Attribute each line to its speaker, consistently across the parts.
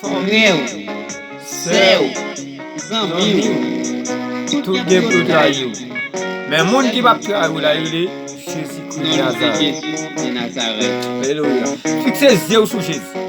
Speaker 1: Frèw, sèw, zanmiw, tout gen pou yo trayiw, men moun ki pap trayiw la rele Jezi Kris de Nazarèt. Alelouya. Fikse zyew sou Jezi.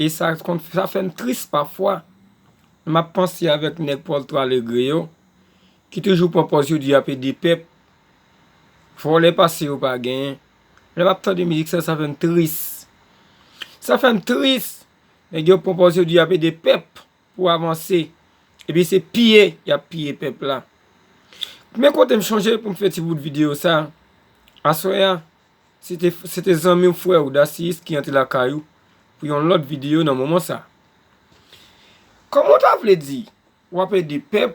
Speaker 2: E sa konn sa fè m tris pafwa lè m ap panse avèk nèg Porto Alegre yo ki toujou pran pòz yo di y ap ede pèp, vòlè pase yo pa genyen. Lè m ap tande mizik sa, sa fè m tris. Sa fè m tris. Nèg yo pran pòz yo di y ap ede pèp pou avanse. Epi se piye y ap piye pèp la. Men kote m chonje pou m fè ti bout videyo sa, aswè a. Se te zanmi ou frè ou Dasiyis ki antre lakay ou pou yon lòt videyo nan moman sa. Kòman ou ta vle di w ap ede pèp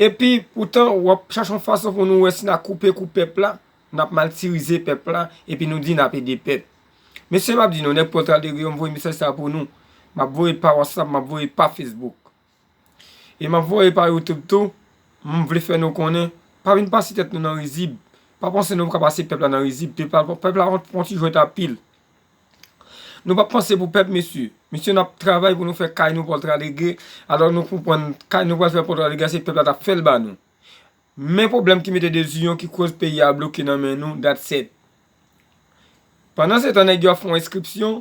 Speaker 2: epi poutan w ap chache yon fason pou nou wè si nan koupe kou pèp la, nan ap maltirize pèp la epi nou di nan ap ede pèp. Mesye m ap di nou nèg pòl tradegri yo m voye mesaj sa pou nou, m ap voye l pa whatsapp, m ap voye l pa facebook. E m ap voye pa youtube tou, m vle fè nou konnen, pa vin pase tèt nou nan rizib, pa panse nou ka pase pèp la nan rizib, pèp la pran ti jwèt apil. Nou pa panse pou pèp mesye, mesye n ap travay pou nou fè kay nou pòltra lege, alò nou konprann kay nou pral fè pòltra lege a se pèp la t ap fè l ba nou. Men pwoblèm ki mete deziyon ki koz peyi a bloke nan men nou, dat sèt. Pandan se tan nèg yo ap fè yon enskripsyon,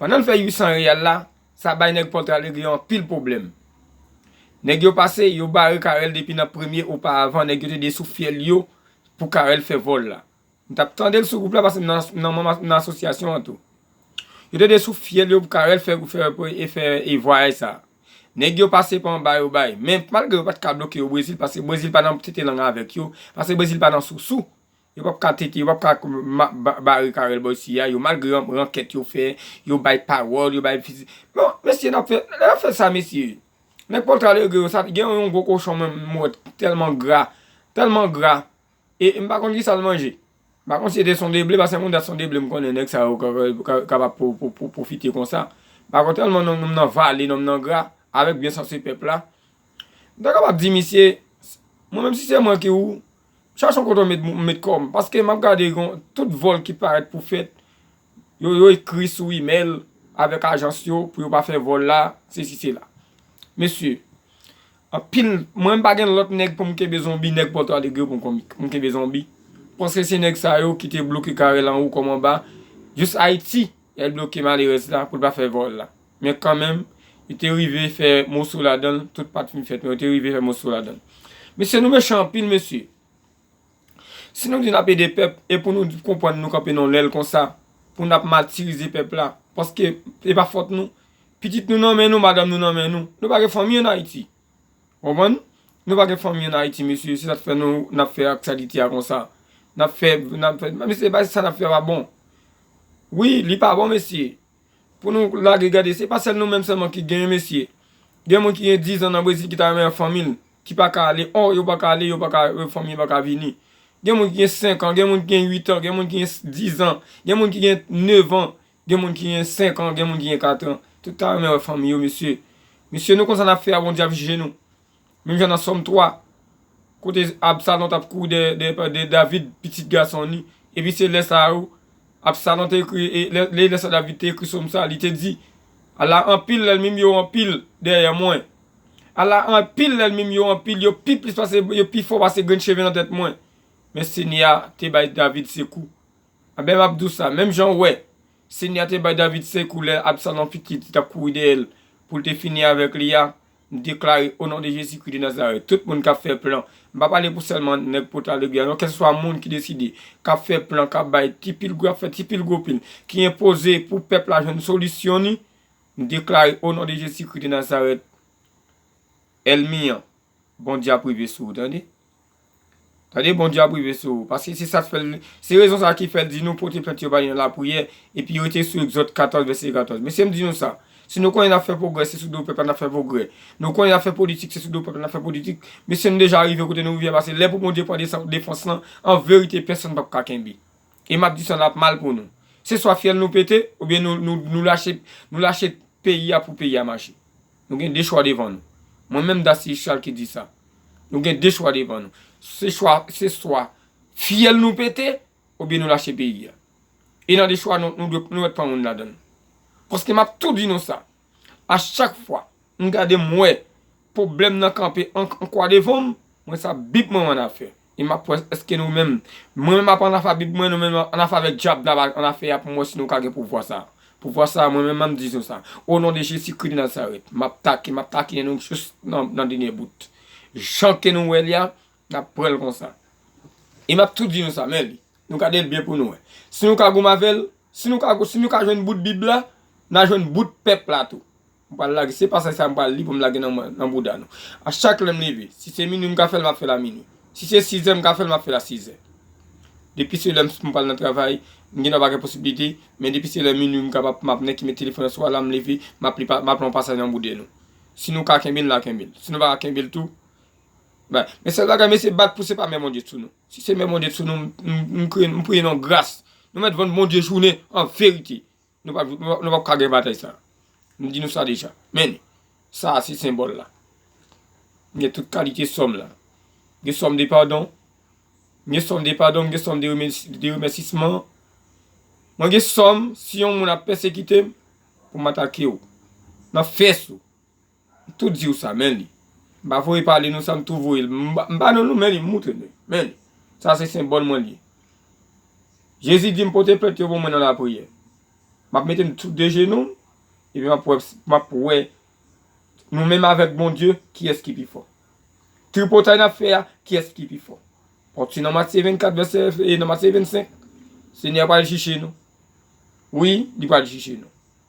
Speaker 2: Pandan l fè 800 riyal la, sa bay nèg Pontralweg yo anpil pwoblèm. Nèg yo pase, yo bare Carel depi nan premye oparavan nèg yo te desou fyèl yo pou Carel fè vòl la. M t ap tande l sou gwoup la paske m nan manm asosyasyon an tou. Yo te desou fyèl yo pou Carel fè vwayaj sa a. Nèg yo pase pa anba yo bay. Men, malgre yo pa t ka bloke yo Brezil paske Brezil pa nan tete lang avèk yo, paske Brezil pa nan sousou, Yo pap ka tete, yo pap ka bare Carel Boy si a yo malgre rankèt yo fè, yo bay pawòl, yo bay fizi. Bon, mesye nap fè, lè nap fè sa mesye. Nèg Pòltra Alegre yo sa, gen yon gwo kochon menm m wè ki tèlman gra, tèlman gra e m pa konn ki sa l manje. M pa konn si se te sondeble, paske moun dat sondeble m konnen nèg sa yo kapab pwofite konsa. M pa konn tèlman nonm nan vale, nonm nan gra, avèk byensanse pèp la. M ta kapab di misye, mwen menm si se mwen ki ou, Chachon kote w met m met kò m paske m ap gade gon tout vòl ki parèt pou fèt yo yo ekri sou imèl avèk ajans yo pou yo pa fè vòl la sesi sela. Mesye anpil mwen m pa gen lòt nèg pou m kenbe zonbi nèg pòtadegre pou m kon m kenbe zonbi paske se nèg sa yo ki te bloke kare l anwo kòm anba jis Ayiti lè l bloke malerèz la pou l pa fè vòl la. Men kanmenm, yo te rive fè moso ladan l, tout pa t fin fèt men yo te rive fè moso ladan l. Mesye nou mechan anpil mesye. Si nou di n ap ede pèp e pou nou konprann nou kanpe nan yon lèl konsa pou n ap matirize pèp la paske e pa fòt nou. Pitit nou nan men nou, madanm nou nan men nou. Nou pa gen fanmi ann Ayiti. Ou konprann? Nou pa gen fanmi ann Ayiti mesye. Se sa k fè nou n ap fè ak salite a konsa. N ap fè, n ap fè. Mesye, sa n ap fè a pa bon. Wi, li pa bon mesye. Pou nou lage gade se pa sèl nou menm sèlman ki genyen mesye. Gen moun ki gen 10 an nan Brezil ki ta renmen wè fanmi l, ki pa ka ale. Ò, yo pa ka ale, yo pa ka, fanmi yo pa ka vini. Gen moun ki gen 5 an, gen moun ki gen 8 an, gen moun ki gen 10 an, gen moun ki gen 9 an, gen moun ki gen 5 an, gen moun ki gen 4 an. Tout ta renmen wè fanmi yo mesye. Mesye nou konn sa n ap fè a Bondye ap jije nou. Menm jan nan Sòm 3, kote Absalon t ap kouri dèyè David, pitit gason li, epi se lè sa a tou Absalon te ekri, lè sa a David te ekri Sòm sa a, li te di, Ala anpil lènmi m yo anpil dèyè mwen! Ala anpil lènmi m yo anpil, yo pi plis pase, yo pi fò pase grenn cheve nan tèt mwen! Men Senyè a te bay David sekou. Anben, m ap di w sa, menm jan ou wè, Senyè a te bay David sekou lè Absalon pitit li t ap kouri dèyè l pou l te fini avèk li a, M deklare o non de Jezi Kri de Nazarèt tout moun kap fè plan, m pa pale pou sèlman nèg pot ale gè a non kèlseswa moun ki deside, kap fè plan, kap bay ti pil gwo, kap fè ti pil gwo pil, ki enpoze pou pèp la jwenn solisyon ni, m deklare o non de Jezi Kri de Nazarèt èlmi an Bondye ap rive sou ou tande. Gade Bondye ap rive sou ou. Paske se sa k fè l, se rezon sa a ki fè l di nou pote plent yo ba li nan lapriyè, epi yo rete sou Egzòd 14 vèsè 14. Mesye m di nou sa, si nou konnen n ap fè pwogrè se sou do pèp la n ap fè pwogrè. Nou konnen n ap fè politik se sou do pèp la n ap fè politik. Mesye nou deja rive kote nou rive a pase lè pou Bondye pran defans lan an verite pèsonn pap ka kenbe. E m ap di sa l ap mal pou nou. Se swa fyèl nou pete oubyen nou lache peyi a pou peyi a mache. Nou gen 2 chwa devan nou. Mwen menm Dacilus Charles ki di sa. Nou gen 2 chwa devan nou. Se chwa, se swa fyèl nou pete oubyen nou lache peyi a. E nan 2 chwa nou, nou dwe, nou mèt pran youn ladan l. Paske m ap tou di nou sa, a chak fwa m gade m wè pwoblèm nan kanpe an kwa devan m, mwen sa bib mwen an afè. E m ap wè èske nou menm. Mwen menm m ap annafa Bib mwen, nou menm annafa avèk dyab n ap annafè a pou m wè si nou ka gen pouvwa sa a. Pouvwa sa a mwen menm m ap di nou sa. Onon de Jezi Kri de Nazarèt, m ap take, m ap takinen nou jous nan dènye bout. Jan ke nou wè li a, n ap pran l konsa. E m ap tou di nou sa, men li. Nou gade l byen pou nou wè. Si nou ka goumen avè l, si nou ka jwenn bout Bib la, n a jwenn bout pèp la tou. M pral lage, se pasaj sa a m pral li pou m lage nan bouda nou. A chak lè m leve, si se minwi m ka fè l m ap fè l a minwi. Si se sizè m ka fè l m ap fè l a sizè. Depi se lè m pral nan travay, m gendwa pa gen posiblite, men depi se lè minwi m kapab m ap nèki met telefòn nan sou alam m leve, m ap li m ap lan pasaj nan boude nou. Si nou ka kenbe l n a kenbe l. Si nou pa ka kenbe l tou, bay. Men sèl bagay, mesye bat pou se pa men Bondye t sou nou. Si se men Bondye t sou nou, m priye nou gras. Nou mèt vann Bondye jounen an verite. Nou pa pou ka gen batay sa. M di nou sa deja. Men, sa a se senbòl la. M gen tout kalite sòm la. M gen sòm de padon. M gen sòm de padon. M gen sòm de remèsisman. Mwen gen sòm si yon moun ap pèsekite m pou m atake ou. Nan fès ou. tou diw sa men li m pa voye pale non sa m tou voye l m pa nan nou men li m moutre nou men li sa se senbòl mwen l ye Jezi di m pote plent yo pou mwen nan lapriyè m ap mete m sou de jenou m epi m ap wè nou menm avèk Bondye kiyès ki pi fò tripotay n ap fè a kiyès ki pi fò paske nan Matye 24 vèsè nan Matye 25 Senyè a pral jije nou wi li pral jije nou.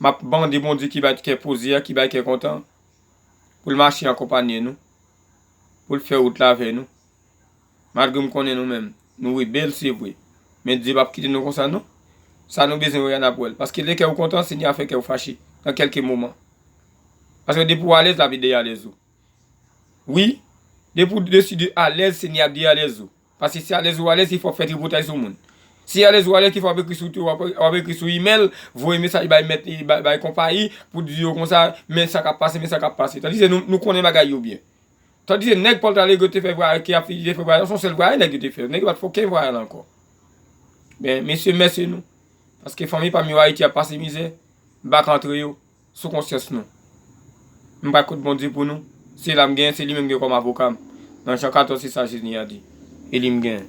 Speaker 2: Map mande Bondye ki bat kè poze a, ki bay kè kontan, poul mache ankonpanye nou, poul fè wout la avè nou. Malgre m konnen nou menm, nou rebèl se vre, men Dye pap kite nou konsa non. Sa nou bezwen wè a nap wèl, paske lè kè ou kontan, Senyè a fè kè ou fache nan kèlke moman. Paske depi ou alèz, lavi deyalèz ou. Wi, depi ou deside alèz, Senyè a deyalèz ou. Paske si alèz ou alèz ki fè wap fè tripotay sou moun. Si alèz ou alèz ki fè wap ekri sou ti wap ekri sou imèl, voye mesaj bay mèt li, bay konpayi, pou di yo konsa, men sa kap pase, men sa kap pase. Tandis ke nou konnen bagay yo byen. Tandis ke nèg Pòl Talegre te fè vwayal ki ap fè te fè vwayal, son sèl vwayal nèg yo te fè. Nèg yo pat fè okenn vwayal ankò. Men, mesye mèsi nou. Paske fanmi pam yo Ayiti ap pase mizè. M pa ka antre yo. sou konsyans nou. M bay kont Bondye pou nou, se la m genyen, se li menm m gen kòm avoka m, nan Jan 14 se sa Jezi a di, e li m genyen.